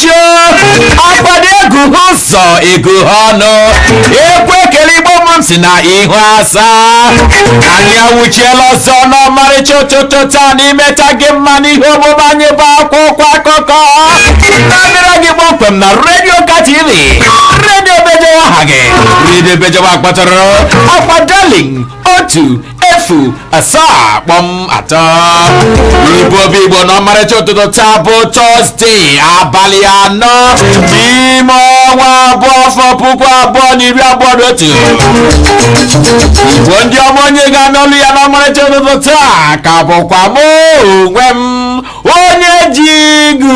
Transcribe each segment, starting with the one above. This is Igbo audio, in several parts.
Chio akwado eguhe ụzọ eguhe ọnụ ekwe ekele igbo mụrụ m si na ihu aza anyị awụchiela ọzọ n'ọmarịcha ụtụtụ taa na imeta gị mma n'ihe omume anyị bụ akwụkwọ akụkọ na-abịara gị kpọmkwem na redio ka tv redio bejewa aha gị redio bejewa akpọtụrụ akwa darling otu efu asaa kpọm atọ igbo bụ igbo na ọmarịcha ụtụtụ taa bụ tọzdee abalị anọ n'ime ọnwa abụọ afọ puku abụọ na iri abụọ na otu igbo ndị ọma onye ga-anụ olu ya n'ọmarịcha ụtụtụ taa ka bụkwa m onwe m onye ji igu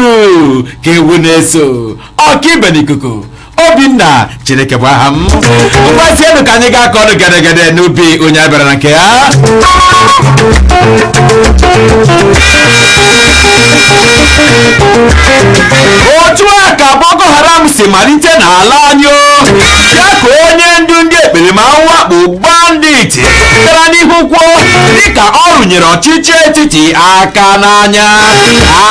ka ewu na-eso ọkaibe n'ikuku obinna chineke bụ aha m ngwazienụ ka anyị gaa kọọnụ gedegede n'ubi onye a bịara na nke ya otu a ka boko haram si malite n'ala anyị ọ ya ka onye ndu ndị ekperima ahụ a kpọ banditi gara n'ihu kwuo dịka ọ rụnyere ọchịchị etiti aka n'anya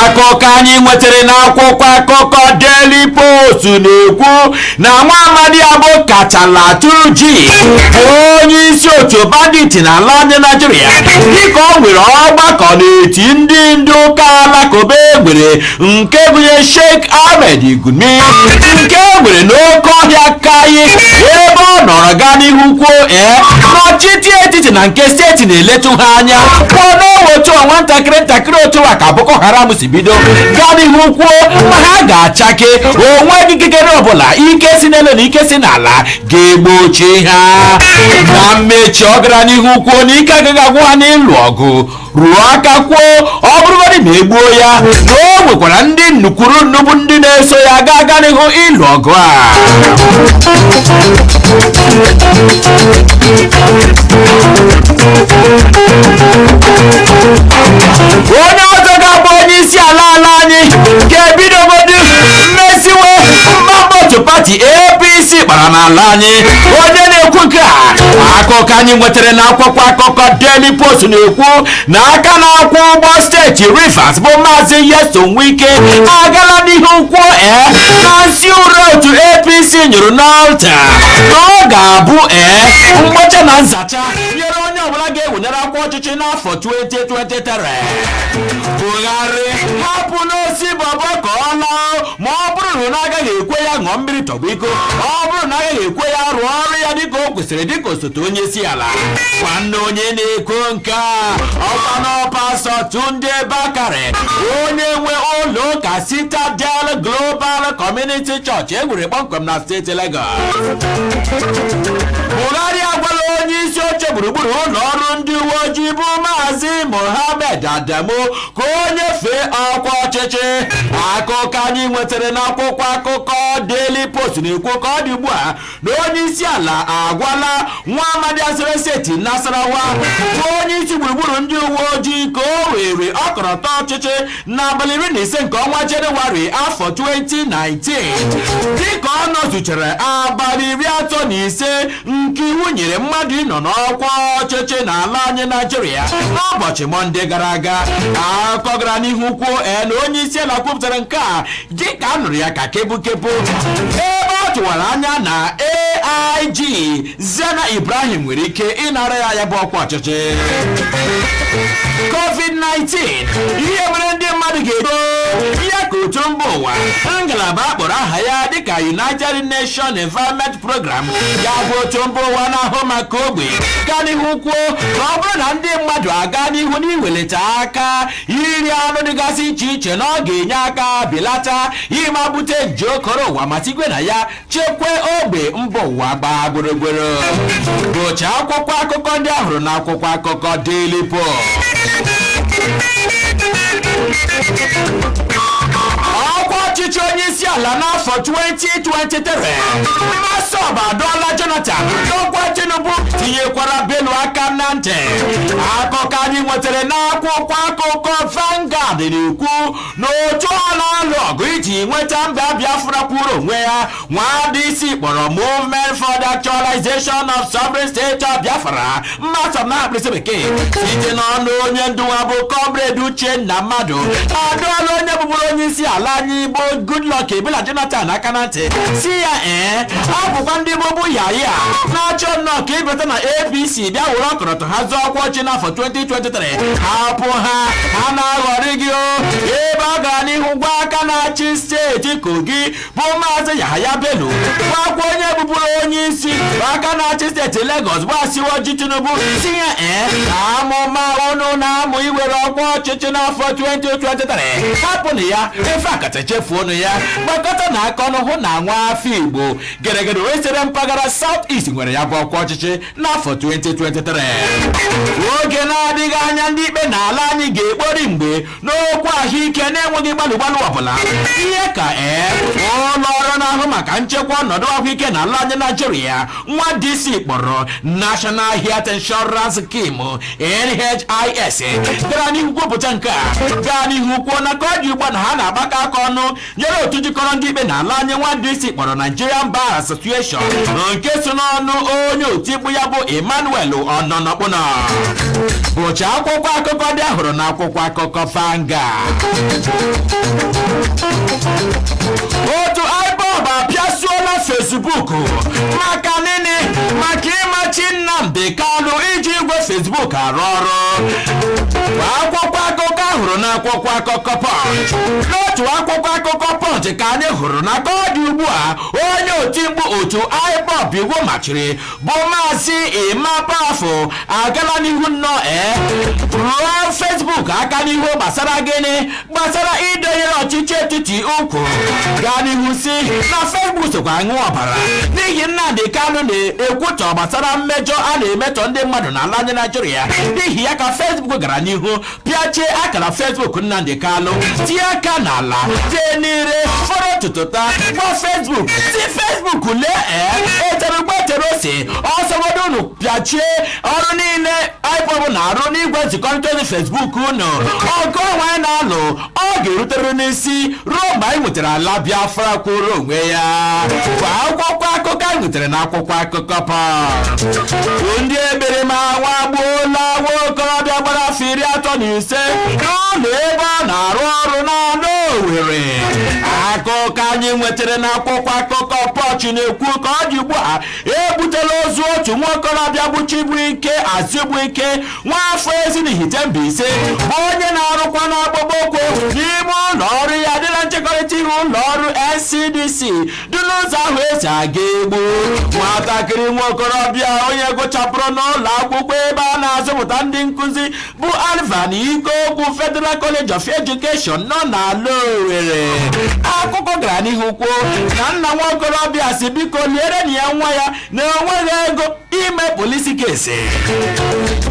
akụkọ anyị nwetara n'akwụkwọ akụkọ Daily Post na-ekwu na nwa amadi a bụ Kachalla Turji bụ onye isi otu bandit na ala anyị Naịjirịa dịka o nwere ọgbakọ n'eti ndị ndị ụka alakụba e nwere nke gụnye Sheikh Ahmed Gumi nke e nwere n'oke ọhịa Makkai ebe ọ nọrọ gaa n'ihu kwuo ee n'ọchịchị etiti na nke steeti na-eletu ha anya kwuo na ọ wụ otu a nwantakịrị ntakịrị otu a ka Boko Haram si bido gaa n'ihu kwuo na ha ga-achake o nweghị ikikere ọbụla ike si n'elu na ike si n'ala ga-egbochi ha na mmechi ọ gara n'ihu kwuo na ike agaghị agwụ ha n'ịlụ ọgụ rụọ aka kwuo ọ bụrụgodị na e gbuo ya na o nwekwara ndị nnu kwuru nnu bụ ndị na-eso ya ga-aga n'ihu ịlụ ọgụ a onye ọzọ ga-abụ onye isi ala ala anyị ga-ebidogodu mmeziwe mkpamkpa otu pati apc kpara n'ala anyị onye na-ekwu nke a akụkọ anyị nwetara na akwụkwọ akụkọ daily post na-ekwu na aka na-akwọ ụgbọ steeti rivers bụ maazị nyesom wike agala n'ihu kwuo ee na nsị ure otu apc nyụrụ n'alta na ọ ga-abụ ee mgbacha na nzacha nyere onye ọbụla ga-ewenyere akwụkwọ ọchịchị ọchịchị n'afọ 2023 Buhari hapụnụ Osinbajo ka ọ laa ma ọ bụrụ na a gaghị ekwe ya ṅụọ mmiri tọgbọ iko ma ọ bụrụ na a gaghị ekwe ya rụọ ọrụ ya dịka o kwesịrị dịka osote onye isi ala nwanne onye na-ekwu nke a ọ kwanụ Pastọ Tunde Bakare onye nwe ụlọ ụka Citadel Global Community Church e wuru kpọmkwem na steeti Lagos Buhari agwala onye isi oche gburugburu ụlọ ọrụ ndị uwe ojii bụ Maazị Mohammed Adamu ka o nyefee ọkwa ọchịchị akụkọ anyị nwetara n'akwụkwọ akụkọ Daily Post na-ekwu ka ọ dị ugbu a na onye isi ala agwala nwa amadị a siri steeti Nasarawa bụ onye isi gburugburu ndị uwe ojii ka o were ọkọlọtọ ọchịchị n'abalị iri na ise nke ọnwa jenụwarị afọ 2019 dịka ọ nọzuchara abalị iri atọ na ise nke iwu nyere mmadụ ịnọ n'ọkwa ọchịchị n'ala anyị naijiria n'ụbọchị mọnde gara aga akụkọ gara n'ihu kwuo na onye isi ala kwupụtara nke a dịka a nụrụ ya ka kebukebu ebe a tụwara anya na AIG Zanna Ibrahim nwere ike ịnara ya ya bụ ọkwa ọchịchị COVID-19 ihe mere ndị mmadụ ga-eto ihe ka otu mba ụwa ngalaba a kpọrọ aha ya dịka United Nations Environment Program ya bụ otu mba ụwa na-ahụ maka ogbe gara n'ihu kwuo na ọ bụrụ na ndị mmadụ aga n'ihu n'iwelata aka iri anụ dịgasị iche iche na ọ ga-enye aka belata ịma bute nje okoro ụwa ma tigwe na ya chekwaa ogbe mba ụwa gbaa gburugburu bụcha akwụkwọ akụkọ ndị a hụrụ na akwụkwọ akụkọ Daily Post ọkwa ọchịchị onye isi ala n'afọ 2023 MASSOB adọọla Jonathan nakwa Tinubu tinyekwara Bello aka na ntị akụkọ anyị nwetara n'akwụkwọ akụkọ Vanguard na-ekwu na otu a na-alụ ọgụ iji nweta mba biafra kwuru onwe ya nwa dc kpọrọ movement for the actualization of sovereign state of biafra massob n'aha mkpirisi bekee site n'ọnụ onye ndu ha bụ comrade uchenna madu adọọla onye bụbụrụ onye isi ala anyị bụ goodluck ebele jonathan aka na ntị sị ya ee ọ bụkwa ndị bubuyaya na-achọ nnọọ ka ịbata na apc bịa were ọkọlọtọ ha zọọ ọkwa ọchịchị n'afọ 2023 hapụ ha ha na-aghọri gị o ebe ọ gara n'ihu gwa aka na-achị steeti kogi bụ maazị yahaya bello gwakwa onye bụbụrụ onye isi aka na-achị steeti legọs bụ asiwaju tinubu sị ha ee na amụma unu na-amụ iwere ọkwa ọchịchị n'afọ 2023 hapụnụ ya in fact chefuonu ya gbakọtanụ aka ọnụ hụ na nwa afọ igbo geregere wee siri mpaghara south east nwere ya bụ ọkwa ọchịchị n'afọ 2023 oge na-adịghị anya ndị ikpe n'ala anyị ga-ekpori mgbe n'okwu ahụike na-enweghị gbalụ gbalụ ọbụla ihe ka ee ụlọ ọrụ na-ahụ maka nchekwa ọnọdụ ahụike n'ala anyị naijiria nwa DC kpọrọ National Health Insurance Scheme NHIS gara n'ihu kwupụta nke a gaa n'ihu kwuo na ka ọ dị ugbu a na ha na-agbakọ aka ọnụ nyere otu jikọrọ ndị ikpe na ala anyị nwa DC kpọrọ Nigerian Bar Association na nke si n'ọnụ onye otimkpu ya bụ Emmanuel Ononokpono bụcha akwụkwọ akụkọ ndị a hụrụ na akwụkwọ akụkọ Vanguard otu IPOB apịasuola Facebook maka gịnị maka ịmachi Nnamdi Kanu iji igwe Facebook arụ ọrụ akwụkwọ akụkọ a hụrụ n'akwụkwọ akụkọ Punch n'otu akwụkwọ akụkọ Punch ka anyị hụrụ na ka ọ dị ugbu a onye otimkpu otu IPOB iwu machiri bụ maazị Emma Powerful agala n'ihu nnọọ ee rụọ Facebook aka n'ihu gbasara gịnị gbasara ịdọnyere ọchịchị etiti ụkwụ gaa n'ihu sị na Facebook sokwa aṅụ ọbara n'ihi Nnamdi Kanu na-ekwutọ gbasara mmejọ a na-emetọ ndị mmadụ na ala anyị Naijiria n'ihi ya ka Facebook gara n'ihu pịachie akara Facebook Nnamdi Kanu tie aka n'ala tee n'ire fọrọ tụtụta gwa Facebook sị Facebook lee ee e tere ụgba e tere ose ọ sọgodu unu pịachie ọrụ niile IPOB na-arụ n'igwe nzikọrịta ozi Facebook unu ọgụ onwe anyị na-alụ ọ ga-eruteriri n'isi ruo mgbe anyị nwetara ala Biafra kwụrụ onwe ya bụ akwụkwọ akụkọ anyị nwetara na akwụkwọ akụkọ Punch ndị ekperima aṅagbuola nwa okorobịa gbara afọ iri atọ na ise n'ụlọ ebe ọ na-arụ ọrụ n'ala Owerri akụkọ anyị nwetara na akwụkwọ akụkọ Punch na-ekwu ka ọ dị ugbu a ebutela ozu otu nwa okorobịa bụ Chibuike Azubuike nwa afọ Ezinihite Mbaise bụ onye na-arụkwanụ akpụkpọ ụkwụ n'ime ụlọ ọrụ ya dị na nchekọrịta ihu ụlọ ọrụ NCDC dị n'ụzọ ahụ e si aga Egbu nwatakịrị nwa okorobịa onye gụchapụrụ n'ụlọ akwụkwọ ebe a na-azụpụta ndị nkụzi bụ Alvan Ikoku Federal College of Education nọ n'ala Owerri akụkọ gara n'ihu kwuo na nna nwa okorobịa sị biko lierenụ ya nwa ya na enweghị ego ime police case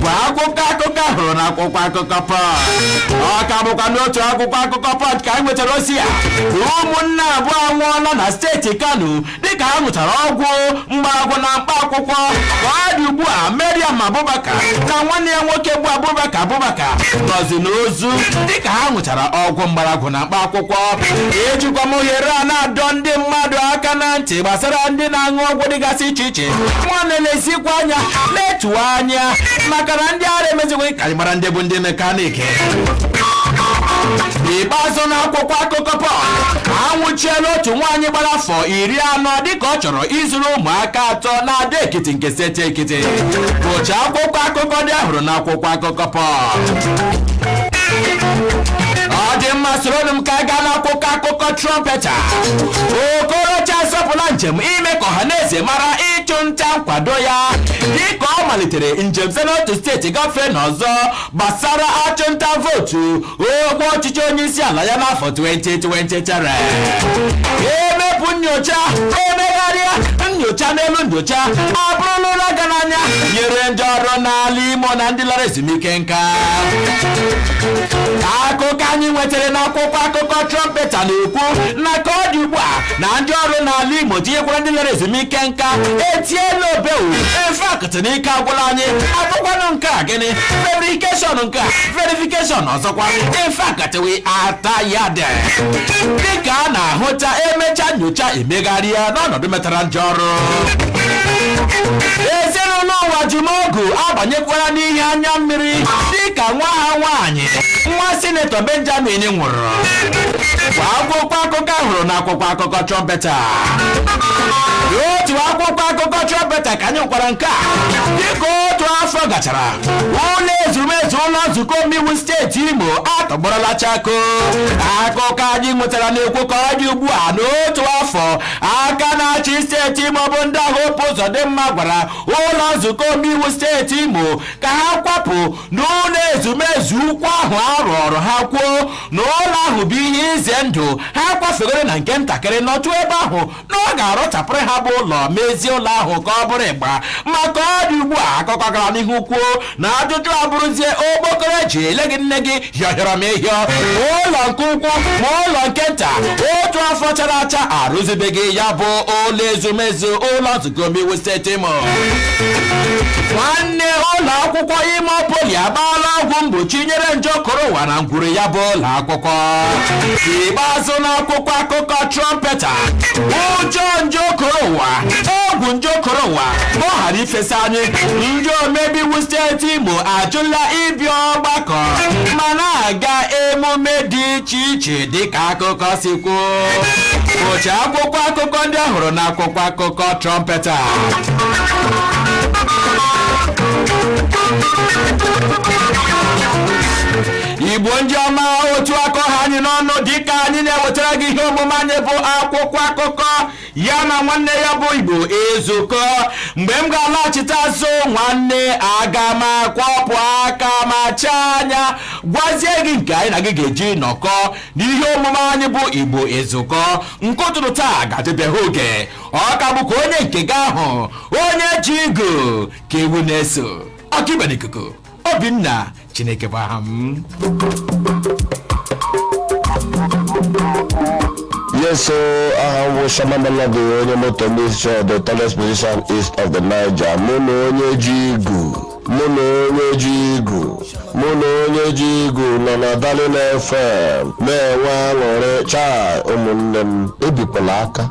bụ akụkọ akụkọ a hụrụ na akwụkwọ akụkọ Punch ọ ka bụkwa n'otu akwụkwọ akụkọ Punch ka anyị nwetara ozi a ụmụnne abụọ anwụọla na steeti Kano dịka ha ṅụchara ọgwụ mgbọrọgwụ na mkpa akwụkwọ ka ọ dị ugbu a Mariam Abubakar na nwanne ya nwoke bụ Abubakar Abubakar nọzi n'ozu dịka ha ṅụchara ọgwụ mgbọrọgwụ na mkpa akwụkwọ ejikwa m ohere a na-adọ ndị mmadụ aka na ntị gbasara ndị na-aṅụ ọgwụ dịgasị iche iche nwa na-elezikwa anya na-etuwa anya maka na ndị ara emezighị ka anyị mara ndị bụ ndị mekanik n'ikpeazụ n'akwụkwọ akụkọ pọl anwụchiela otu nwaanyị gbara afọ iri anọ dịka ọ chọrọ izuru ụmụaka atọ n'Ado Ekiti nke steeti ekiti bụcha akwụkwọ akụkọ ndị a hụrụ n'akwụkwọ akụkọ pọl ọ dị mma soronụ m ka a gaa n'akwụkwọ akụkọ trọmpeta okorocha asọpụla njem ime ka ọha na eze mara ịchụ nta nkwado ya dịka ọ malitere njem site n'otu steeti gafee n'ọzọ gbasara ịchụ nta vootu ọkwa ọchịchị onye isi ala ya n'afọ 2023 emepụ nyocha emegharịa nyocha n'elu nyocha abụrụla ụra ga n'anya nyere ndị ọrụ n'ala imo na ndị lara ezumike nka akụkọ anyị nwetara n'akwụkwọ akụkọ trọmpeta na-ekwu na ka ọ dị ugbu a na ndị ọrụ n'ala imo tinyekwara ndị lara ezumike nka etiela obewu in fact n'ike agwụla anyị ọ bụkwanụ nke a gịnị verification nke a verification ọzọkwa in fact we are tired dịka a na-ahụta emecha nyocha emegharịa n'ọnọdụ metara ndị ọrụ ezinụlọ Uwajumogu abanyekwara n'ihe anya mmiri dịka nwa ha nwaanyị nwa sinetọ benjamin nwụrụ kwa akwụkwọ akụkọ a hụrụ n'akwụkwọ akụkọ trọmpeta otu akwụkwọ akụkọ trọmpeta ka nyekwara nke a dịka otu afọ gachara ụlọ ezumezu ụlọ nzukọ omeiwu steeti imo atọgbọrọla chakoo akụkọ anyị nwetara na-ekwu ka ọ dị ugbu a n'otu afọ aka na-achị steeti imo bụ ndaa Hope Uzodimma gwara ụlọ nzukọ omeiwu steeti imo ka ha kwapụ n'ụlọ ezumezu ukwu ahụ a rụọrọ ha kwuo na ụlọ ahụ bụ ihe ize ndụ ha kwafegoro na nke ntakịrị nọtụ ebe ahụ na ọ ga-arụchapụrụ ha bụ ụlọ mezie ụlọ ahụ ka ọ bụrụ ịgba ma ka ọ dị ugbu a akụkọ gara n'ihu kwuo na ajụjụ abụrụzie okpokoro eji ele gị nne gị hịọhịọrọ m ịhịọ ma ụlọ nke ukwu ma ụlọ nke nta otu afọ chara acha arụzibeghị ya bụ ụlọ ezumezu ụlọ nzukọ omeiwu steeti Imo nwanne ụlọ akwụkwọ Imo poli agbaala ọgwụ mgbochi nyere nje koro ụwa na ngwuru ya bụ ụlọ akwụkwọ ikpeazụ n'akwụkwọ akụkọ trọmpeta ụjọ nje okoro ụwa egwu nje okoro ụwa ka ọ ghara ifesa anyị ndị omebe iwu steeti imo ajụla ịbịa ọgbakọ ma na-aga emume dị iche iche dịka akụkọ si kwuo ụcha akwụkwọ akụkọ ndị a hụrụ na akwụkwọ akụkọ trọmpeta igbo ndị ọma otu a ka ọ ha anyị n'ọnụ dịka anyị na-ewetara gị ihe omume anyị bụ akwụkwọ akụkọ ya na nwanne ya bụ igbo ezukọ mgbe m ga-alaghachite azụ nwanne aga m akwọpụ aka ma chaa anya gwazie gị nke anyị na gị ga-eji nọkọ n'ihe omume anyị bụ igbo ezukọ nke ụtụtụ taa ga-adịbeghị oge ọ ka bụkwa onye nke gị ahụ onye ji igu ka ewu na-eso ọkaibe n'ikuku obinna chineke bụ aha m Yes, so aha m bụ Shama Melody, onye Motor Mixture the tallest musician east of the Niger. Mụ na onye ji igu, mụ na onye ji igu, mụ na onye ji igu nọ na Darling FM na-enwe aṅụrị chai ụmụnne m ebikwala aka.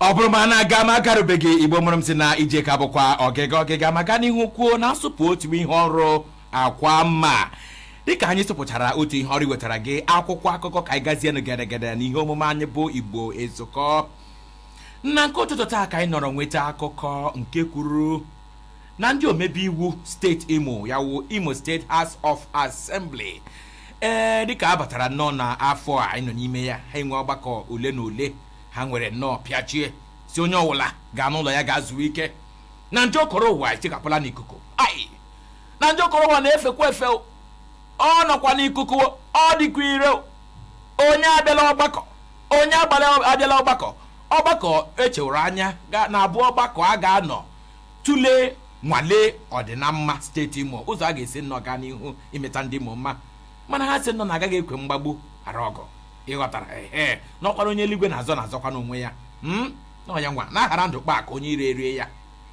ọ bụrụ ma a na-aga ma agarubeghị igbo mụrụ m sị na ije ka bụkwa ọgịga ọgịga ma gaa n'ihu kwuo na a sụpụ otu ihu ọrụ akwa mma dịka anyị sụpụchara otu ihu ọrụ wetara gị akwụkwọ akụkọ ka anyị gazienụ gedegede na ihe omume anyị bụ igbo ezukọ na nke ụtụtụ taa ka anyị nọrọ nweta akụkọ nke kwuru na ndị omebe iwu steeti imo ya wu imo steeti house of assembly ee dịka a batara nnọọ na afọ a anyị nọ n'ime ya ha enwee ọgbakọ ole na ole ha nwere nnọọ pịachie sị onye ọ wụla gaa n'ụlọ ya gaa zuo ike na nje okoro ụwa etikapụla n'ikuku ai na nje okoro ụwa na-efekwa efe ọ nọkwa n'ikuku ọ dịkwa ire onye abịala ọgbakọ onye agbala abịala ọgbakọ ọgbakọ e chewere anya na ọ bụ ọgbakọ a ga-anọ tụlee nwale ọdịnamma steeti imo ụzọ a ga-esi nnọọ gaa n'ihu imeta ndị imo mma mana ha sị nnọọ na agaghị ekwe mgbagbu ghara ọgụ ị ghọtara ee n'ọkwara onye eluigwe na-azọ na-azọkwanụ onwe ya hmm? n'onye nwa na-aghara ndụ kpaa akụ onye iro erie ya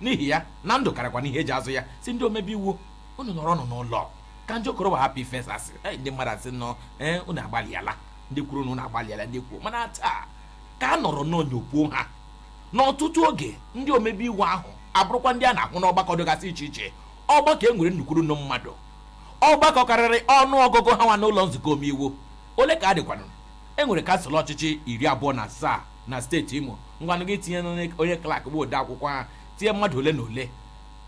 n'ihi ya na ndụ karịkwanụ ihe e ji azụ ya sị ndị omebe iwu unu nọrọnụ n'ụlọ ka nje okoro ụwa hapụ ifesa ndị mmadụ a sị nnọọ ee unu agbalịala ndị kwuru na unu agbalịala ndị kwuo mana taa ka a nọrọ nnọọ nyopụọ ha n'ọtụtụ oge ndị omebe iwu ahụ abụrụkwa ndị a na-ahụ n'ọgbakọ dịgasị iche iche ọgbakọ e nwere nnu kwuru nnu mmadụ ọgbakọ karịrị ọnụ ọgụgụ ha nwa n'ụlọ nzukọ omeiwu Ole ka ha dịkwanụ? E nwere kansụl ọchịchị iri abụọ na asaa na steeti Imo. Ngwanụ gị tinye onye klak bụ ode akwụkwọ ha tinye mmadụ ole na ole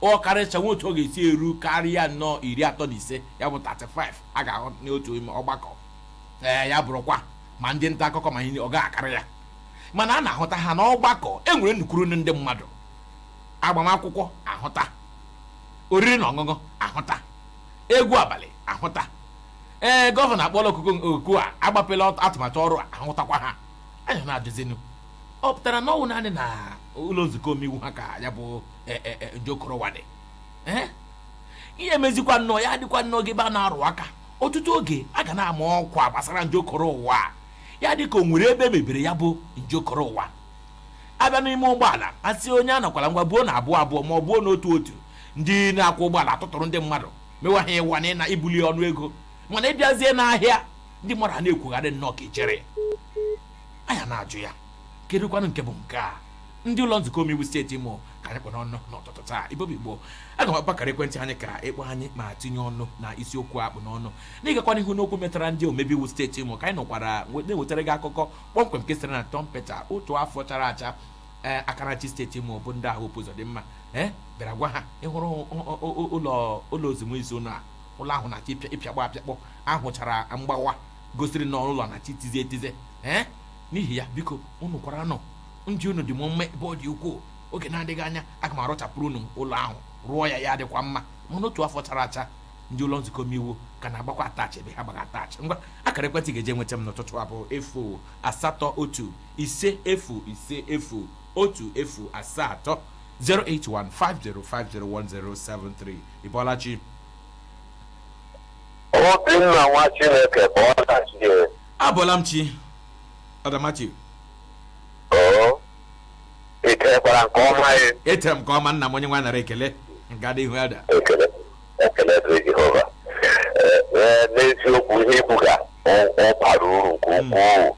ọ karịcha nwee otu ọ ga-esi eru karịa nnọọ iri atọ na ise ya bụ 35 a ga-ahụ n'otu ime ọgbakọ ee ya bụrụkwa ma ndị nta akụkọ ma ihe ọ gaghị akarị ya mana a na-ahụta ha n'ọgbakọ e nwere nnukwu ndị mmadụ agbamakwụkwọ a hụta oriri na ọṅụṅụ a hụta egwu abalị a hụta ee gọvanọ akpọla oku oku a agbapela ọt- atụmatụ ọrụ a hụtakwa ha anyị na-ajụzinụ ọ pụtara na ọ wụ naanị na ụlọ nzukọ omeiwu ha ka ya bụ e, e, e, njokoro ụwa dị Ee? ihe mezikwa nnọọ ya dịkwa nnọọ ka ebe a na-arụ aka ọtụtụ oge a ga na-ama ọkwa gbasara njokoro ụwa a. ya dịka o nwere ebe e mebere ya bụ njokoro ụwa a bịa n'ime ụgbọala a sị onye anakwala ngwa buo na abụọ abụọ ma ọ bụ n'otu otu ndị na-akwọ ụgbọala atụtụrụ ndị mmadụ mewa ha ịwa anya na ibuli ọnụ ego mana ị bịazie n'ahịa ndị mmadụ ana-ekwogharị nnọọ ka ijere anyị na-ajụ ya kedụkwanụ nke bụ nke a ndị ụlọ nzukọ omeiwu steeti imo ka anyị kpụ n'ọnụ n'ụtụtụ taa ibobi igbo aga m akpọ akara ekwentị anyị ka ị kpọọ anyị ma tinye ọnụ na isiokwu a kpụ n'ọnụ na ịgakwa n'ihu n'okwu metụtara ndị omebe iwu steeti imo ka anyị nọkwara na-ewetara gị akụkọ kpọmkwem nke siri na Trumpeta otu afọ chara acha ee aka na-achị steeti imo bụ Ndaa Hope Uzọdịmma ee bịara gwa ha ị hụrụ ụlọ ụlọ ezumezu na ụlọ ahụ na-achọ ịpịakpọ apịakpọ a hụchara mgbawa gosiri na ụlọ na-achọ itize etize ee n'ihi ya biko unu kwara na ndụ unu dị m mma ebe ọ dị ukwuu oge na-adịghị anya aga m arụchapụrụ unu ụlọ ahụ rụọ ya ya dịkwa mma mana otu afọ chara acha ndị ụlọ nzukọ omeiwu ka na-agbakwa attach ebe ha gba attach ngwa akara ekwentị ị ga-eji nweta m n'ụtụtụ a bụ efu asatọ otu ise efu ise efu otu efu asaa atọ 08150501073 ị bọla chi Obinna nwa Chineke ị bọla chi ee. abọla m chi Adamachi Oo. I tekwara nke ọma ya. etere m nke ọma nna m onye nwe anyị nara ekele nga dị ihu ada Ekele ekele dịrị Jehova. Ee, ee, N'eziokwu ihe i kwuga ọ ọ bara uru nke ukwuu.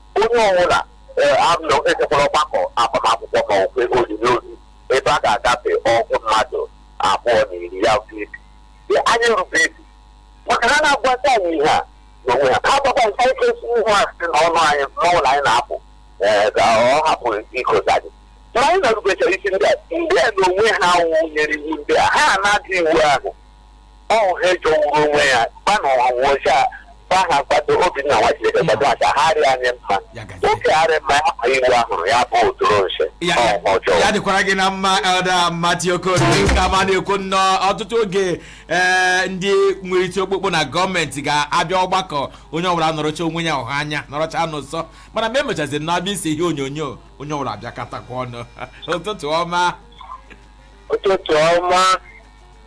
onye ọbụla ee, ejekwala ọgbakọ agbamakwụkwọ ma okwe olili ozu ebe a ga-agafe ọgụ mmadụ abụọ na iri ya wụ 50 Ee, anyị rube isi maka na ha na-agwata anyị ihe ha n'onwe ha ha gbakwa nke anyị kwesị ihu a sị na ọnụ anyị n'ụlọ anyị na-apụ ee, ka ọ hapụ ikozi anyị ma anyị na-erubechara isi ndị a ndị a n'onwe ha wụ nyere iwu ndị a ha na-ada iwu ahụ ọwụ ha ejọwuru onwe ya kpanụ ha wụcha ba ha kwado obinna nwa chineke kwado ha ka ha rịa anyị mma Ya gazie. oke arị mma ya ma iwu ahụrụ ya bụ otoro nche ya ọ ma ọjọọ ya dịkwara gị na mma Elder mati okorie nke ama na-ekwu nnọọ ọtụtụ oge ee ndị nwere iti okpukpu na gọọmenti ga-abịa ọgbakọ onye ọbụla anọrọcha onwe ya ọha anya nọrọcha n'ụsọ mana mgbe emechaziri na-abịa ise ihe onyonyo onye ọbụla abịakọtakwa ọnụ ụtụtụ ọma ụtụtụ ọma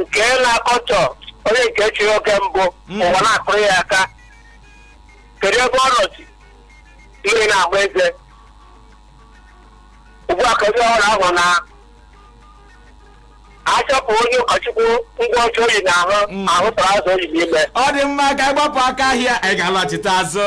nke na-akọtọ onye nke chịrị oge mbụ Mm. ụwa na-akụrụ ya aka kedu ebe ọ nọzi mmiri na-agba eze ugbu a ka onye ọhụrụ ahụ na-achụpụ onye ụkọchukwu ngwa ọcha oyi na ahụ Mm. ahụ tara azụ oyi n'ime ọ dị mma ka anyị gbapụ aka ahịa anyị ga-alọchite azụ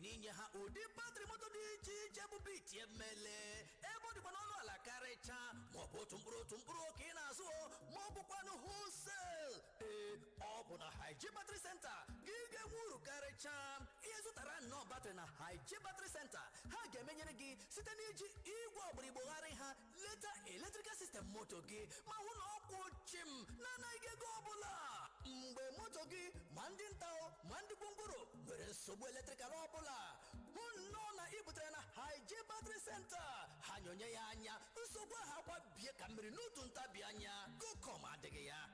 n'inye ha ụdị batrị moto dị iche iche bụ bit emele ebe ọ dịkwa n'ọnụ ala karịcha maọbụ otu mkpụrụ otu mkpụrụ ka ị na-azụ o ma ọ bụkwanụ wholesale ee ọ bụ na haiji batrị senta ka ị ga-enwe uru karịcha ị zụtara nnọọ batrị na haiji batrị senta ha ga-emenyere gị site n'iji igwe ọgbara Igbo gharị ha leta electrical system moto gị ma hụ na ọ kwụ chịm n'anaghị gị ego ọbụla mgbe moto gị ma ndị nta o, ma ndị gwongworo nwere nsogbu eletrikal ọbụla hụ nnọọ na ị butere na haiji battery center ha nyoonye ya anya nsogbu ahụ akwa bie ka mmiri n'otu ntabi anya go come adịghị ya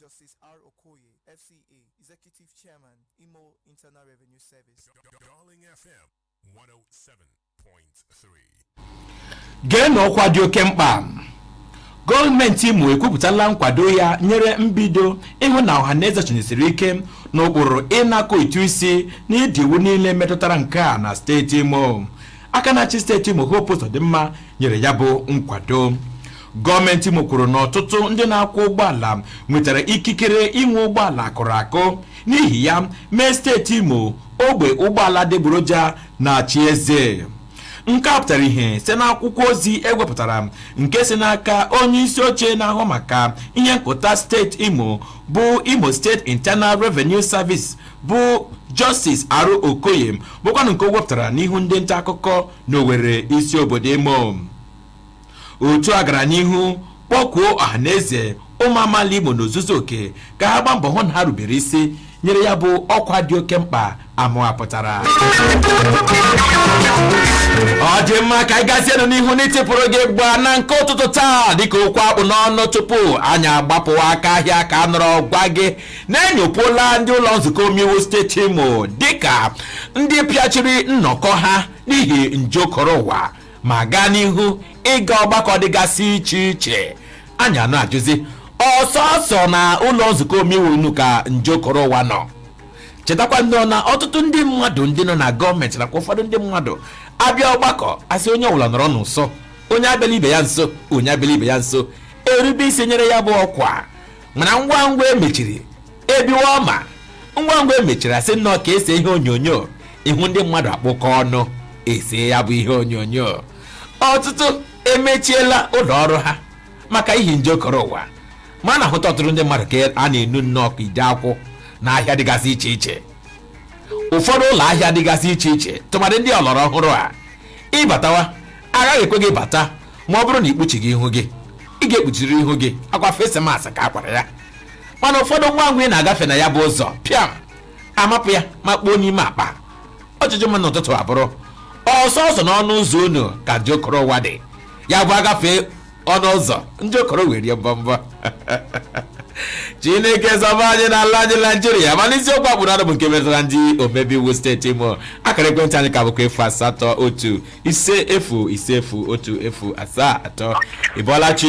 Justice R. Okoye, FCA, Executive Chairman, Imo Internal Revenue Service. Darling FM 107.3. geenụ ọkwa dị oke mkpa gọọmenti imo ekwupụtala nkwado ya nyere mbido ịhụ na ọha na eze chịnyesiri ike n'ụkpụrụ ịnakọ ụtụ isi na ụdị iwu niile metụtara nke a na steeti imo aka na-achị steeti imo hope ụzọdịmma nyere ya bụ nkwado gọọmenti Imo kwuru na ọtụtụ ndị na-akwọ ụgbọala nwetara ikikere inwe ụgbọala akụrụ akụ n'ihi ya mee steeti Imo ogbe ụgbọala adịgboroja na-achị eze nke a pụtara ihe site n'akwụkwọ ozi e wepụtara nke si n'aka onye isi oche na-ahụ maka ihe nkụta steeti Imo bụ Imo State Internal Revenue Service bụ Justice R. Okoye bụkwanụ nke o wepụtara n'ihu ndị nta akụkọ n'Owerri isi obodo Imo otu a gara n'ihu kpọkuo ọhaneze ụmụ amaala Imo n'ozuzu oke ka ha gbaa mbọ hụ na ha rubere isi nyere ya bụ ọkwa dị oke mkpa amụwapụtara ọ dị mma ka anyị gazienụ n'ihu n'itipụrụ gị ịgba na nke ụtụtụ taa dịka okwu a kpụ n'ọnụ tupu anyị agbapụwa aka ahịa ka a nọrọ gwa gị na e nyopuola ndị ụlọ nzukọ omeiwu steeti Imo dịka ndị pịachiri nnọkọ ha n'ihi nje okoro ụwa ma gaa n'ihu ịga ọgbakọ dịgasị iche iche anyị ana-ajụzi ọ sọsọ na ụlọ nzukọ omeiwu unu ka nje koro ụwa nọ chetakwa nnọọ na ọtụtụ ndị mmadụ ndị nọ na gọọmenti nakwa ụfọdụ ndị mmadụ abịa ọgbakọ a sị onye ọbụla nọrọ n'ụsọ onye abịala ibe ya nso onye abịala ibe ya nso erube isi nyere ya bụ ọkwa mana ngwa ngwa e mechiri ebiwa ọma ngwa ngwa e mechiri a sị nnọọ ka e see ihe onyonyo ị hụ ndị mmadụ akpụkọ ọnụ ese ya bụ ihe onyonyo ọtụtụ emechiela ụlọ ọrụ ha maka ihi nje koro ụwa ma a na-ahụta ọtụtụ ndị mmadụ ka a na-enu nnọọ ka ide akwụ na ahịa dịgasị iche iche ụfọdụ ụlọ ahịa dịgasị iche iche tụmadị ndị ọlọrọ ọhụrụ a ị batawa agaghị ekwe gị bata ma ọ bụrụ na i kpuchighị ihu gị ị ga-ekpuchiri ihu gị akwa face mask a kwara ya mana ụfọdụ ngwa ngwa ị na-agafe na ya bụ ụzọ pịam amapụ ya ma kpoo n'ime akpa ajụjụ m n'ụtụtụ a bụrụ ọ sọsọ n'ọnụ ụzọ unu ka nje koro ụwa dị ya bụ a gafee ọnụ ụzọ nje koro wee rie mbọmbọ chineke zọba anyị n'ala anyị naijiria mana isiokwu a kpụ n'ọnụ bụ nke metụtara ndị omebe iwu steeti imo akara ekwentị anyị ka bụkwa efu asatọ otu ise efu ise efu otu efu asaa atọ ị bọọla chi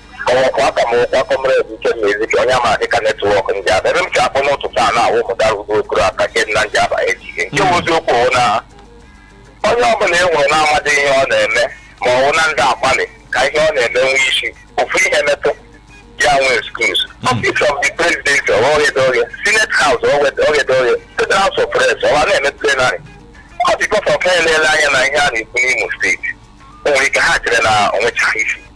ọ wụkwa aha m wụkwa kọmred ikenna ezike onye a ma dịka netwọk ndị aba ebe m si akpọ n'ụtụtụ a na-awụ mụtara udo okoro aka nke nna ndị aba ejighị nke bụ eziokwu wụ na onye ọbụla e nwere na-amadị ihe ọ na-eme ma ọ wụ na ndị agbalị ka ihe ọ na-eme nwee isi ofu ihe metụ ya nwe excuse office of the president ọghọghedoghe senate house ọghọghedoghe state house of reps ọwa na-eme plenary ọ dị gọfọ ka elele anya na ihe a na-ekwu n'imo steeti o nwere ike ha chere na o nwechaghị isi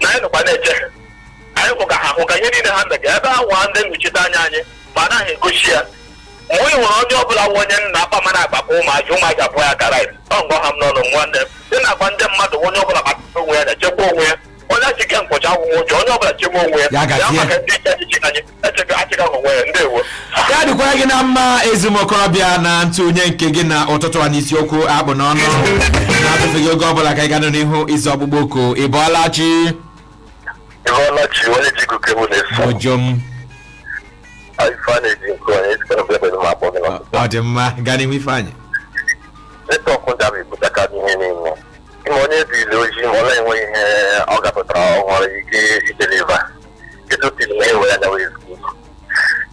na anyị nọkwa na-eche ha anyị kwụ ka ha hụ ka ihe niile ha mega ebe ahụ a ndị nnọchite anya anyị ma anaghị egosi ya mgbe ị nwere onye ọbụla nwe onye nna akpa mana agbakọ ụmụaja ụmụaja pụọ ya kara ọ ngwa ha m n'ọnụ nwa nne dị na agwa ndị mmadụ onye ọbụla gbakọta onwe ya na-echekwa onwe ya onye achike nkwụcha agwụgwụ ụjọ onye ọbụla chebe onwe ya Ya gazie. maka ndị iche echichi anyị ya dịkwara gị na mma ezi m okorobịa na ntụnye nke gị na ụtụtụ a n'isiokwu a kpụ n'ọnụ na-atụfeghị oge ọbụla ka anyị gaa n'ihu ịza ọkpụkpọ oku ị bọọla chi ojom ọ dị mma gaa n'ihu ifeanyị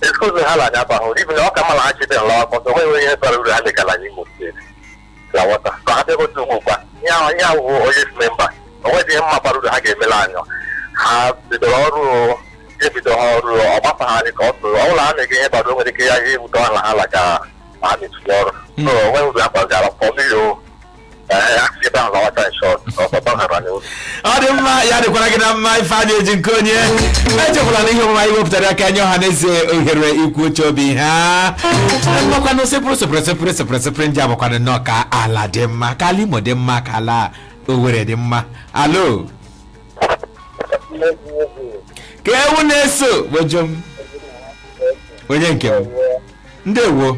excuse ha na-aga aba hụrụ ibi na ọ ka mara ha chebe nla akwụkwọ so o nweghị ihe bara uru ha megara n'Imo steeti na wọta ka ha bịagote ugbu kwa ihe ahụ ihe ahụ onye si memba o nweghị ihe mma bara uru ha ga-emela anyọ ha bidoro ọrụ ebido ha ọrụ ọ gbasa ha dị ka ọ tụrụ ọ bụla ha na-ege ihe bara uru nwere ike ya ihe ewute ọha na ha laga ma ha na-etinye ọrụ so o nweghị uru ha bagara pọmiri o ọ dị mma ya dịkwara gị na mma ife a na-eji nke onye echekwala na ihe omume anyị wepụtara aka nye ọha na eze ohere ikwu uche obi ha mmakwanụ sepụrụ sepụrụ sepụrụ sepụrụ sepụrụ ndị abụkwanụ nnọọ ka ala dị mma ka ala imo dị mma ka ala owere dị mma alo ka ewu na-eso wejo m onye nke m ndewo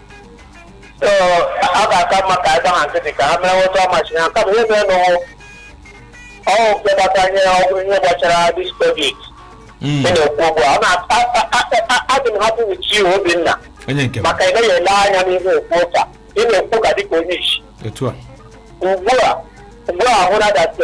ọ ga-aka mma ka anyị gbaha nkịtị ka ha mere otu ọ masị ha kama ihe mere n'ụwụ ọwụ nke gbata ihe ọ wụrụ ihe gbasara dis covid Mm. ị na-ekwu ugbu a ọ na- a- a- a- a- adị m hapụ uche obinna onye nke m maka ị naghị ele anya n'ihe okwu ụka ị na-ekwu ka dịka onye isi etu a ugbu a ugbu a hụrụ adatị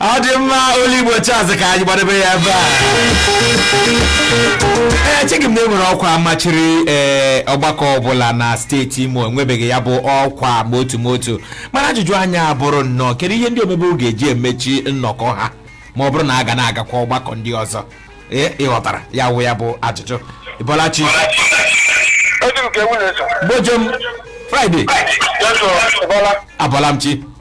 ọ dị mma olu igbo chaz ka anyị gbadebe ya ebe a ee echeghị m na e nwere ọkwa machiri ee ọgbakọ ọbụla na steeti imo e nwebeghị ya bụ ọkwa ma otu ma otu mana ajụjụ anyị abụrụ nnọọ kedu ihe ndị omebe ga-eji emechi nnọkọ ha ma ọ bụrụ na a ga na-agakwa ọgbakọ ndị ọzọ ee ị ghọtara ya wụ ya bụ ajụjụ ị bọọla chi Edu nke nwunye so. gbojom Friday Yes, sir. Bọla. abọọla m chi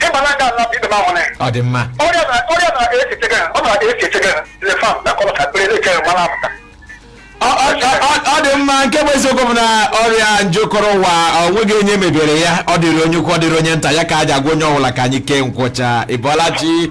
ị gbara aka na ibe m ahụne ọ dị mma ọrịa na ọrịa na esi chega ọ na esi chega le fam na kọlọ ka pere ke mara apụta Ọ- ọ- ọ- ọ dị mma nke bụ eziokwu bụ na ọrịa njokọrọ ụwa o nweghị onye mebere ya ọ dịrị onye ukwu ọ dịrị onye nta ya ka a ji agwa onye ọbụla ka anyị kee nkwucha ị bọọla chi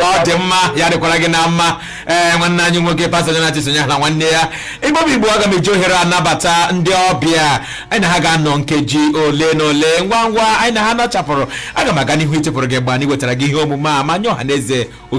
ọ dị mma ya dịkwara gị na mma ee nwanne anyị nwoke pastọ Jonathan sonye na nwanne ya igbo bụ igbo aga m eji ohere a nabata ndị ọbịa anyị na ha ga-anọ nkeji ole na ole ngwa ngwa anyị na ha nọchapụrụ aga m aga n'ihu ichepụrụ gị mgbe anyị wetara gị ihe omume a ma nye ọha na eze ohere